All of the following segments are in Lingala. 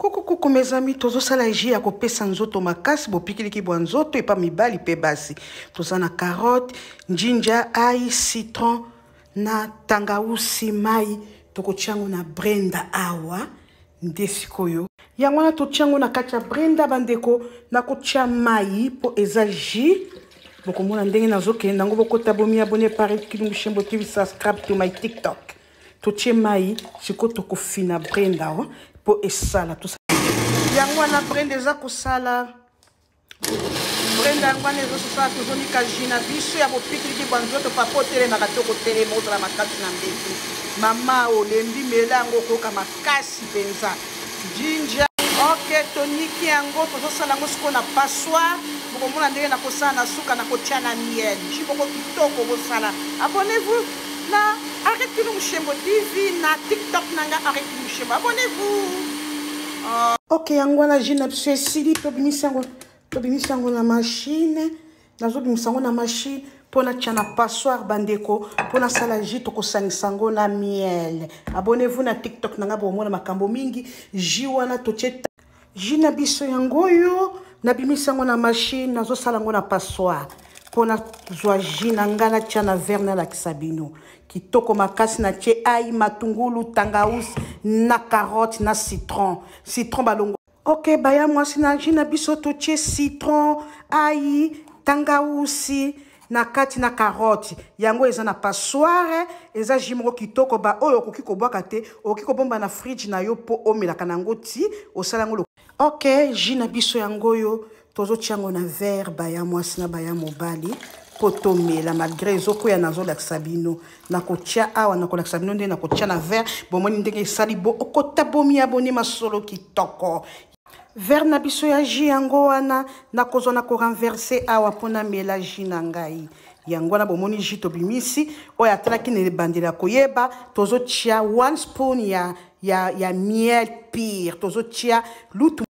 kukukuku mes amis tozosala jus ya kopesa nzoto makasi bopikiliki bwa nzoto epa mibali mpe basi toza na carotte njinja ai citron na tangausi mai tokotia yango na brenda awa nde sikoyo yango wana totia yango na kati ya brenda bandeko nakotia mai mpo eza jus bokomona ndenge nazokende yango bokota bomi abone pare kilungushembo tv subscribe to my tiktok totie mai sikoyo tokofina brenda mpo esala yango wana brenda eza kosala brenda yango wana ezososala tozomika jus na biso ya bopikiliki bwa nzoto papa otelemaka to kotelema ozala makasi na mbetu mama olembi mela yango okoyoka makasi mpenza jinja ok toniki yango tozosala yango sikoyo na passoire bokomona ndenge nakosala na suka nakotya na miel ji boko kitoko bosala abonnez-vous na arrete kino moshembo tv na tiktok na nga arrete kino moshembo abonnez-vous ok yango wana jus na biso esili tobimisi yango tobimisi yango na mashine nazobimisa yango na mashine mpo natya na passoire bandeko mpo nasala jus tokosangisa yango na miel abonnez-vous na tiktok na ngai bokomona makambo mingi jus wana totye jus na biso yango oyo nabimisi yango na mashine nazosala yango na passoire mpo nazwa jus na ngai natya na verre nalakisa bino kitoko makasi na tie ai matungulu tangaus na carotte na citron citron balongo ok baya mwasi na jus na biso totie citron ai tangausi na kati na carotte yango eza na passoire eza jus moko kitoko baoyo okoki kobwaka te okoki kobomba na fridge na yo mpo omelaka na yango ti osala yango Ok, jus na biso yango oyo tozotia yango na verre baya mwasi na baya mobali mpo tomela malgré ezokwea nazolakisa bino nakotya awa nakolakisa bino nde nakotya na verre bomoni ndenge esali bo okota bomi aboni masolo kitoko verre na biso ya jus yango wana nakozwa na korenverse awa mpo namela jus na ngai yango wana bomoni jus tobimisi oyo atalaki na ebandeli ya koyeba tozotya one spoon ya ya, ya miel pire tozotia lutu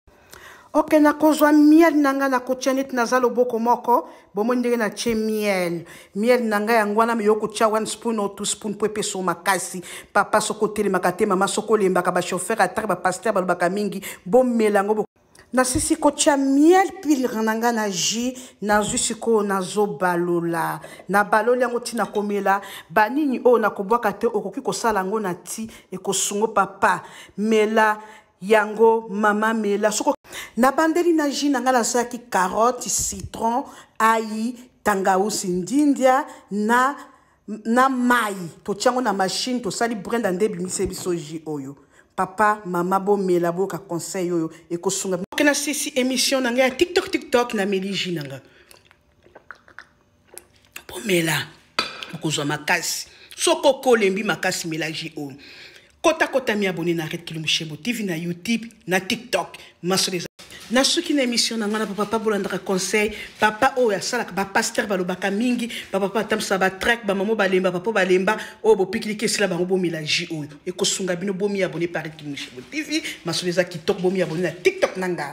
oke nakozwa miel na ngai nakotia neti naza loboko moko bomoi ndenge natie miel miel na ngai yango wana meyo kotia one spoon o two spoon mpo epesa makasi papa soki otelemaka te mama soki olembaka bachauffeur atake bapaster balobaka mingi bomela yango nasisi kotya miel pilre na ngai na jus nazwi sikoyo nazobalola nabaloli yango ti nakomela banini oyo nakobwaka te okoki kosala yango na ti ekosungo papa mela yango mama mela soko nabandeli na jus na ngai nasalaki carotte citron ai tangausi ndindia na na mai totya yango na mashine tosali brenda nde ebimisi biso ji oyo papa mama bomela boyoka conseil oyo ekosunga oke na sisi émission na ngai ya tiktok tiktok na meli ji na ngai bomela okozwa makasi soki okolembi makasi mela ji oyo Kota kota mi abonné na Red Kilomushebo TV na YouTube na TikTok. Masolo eza. nasuki na émission na ngai na bapapa bolandaka conseil papa oyo asalaka bapaster balobaka mingi bapapa batambusaka batrake bamamo balemba papa balemba oyo bopikiliki esila bango bomela ji oyo ekosunga bino bomi abone paris kimushebo tv masolo eza kitoko bomi abone na tiktok na ngai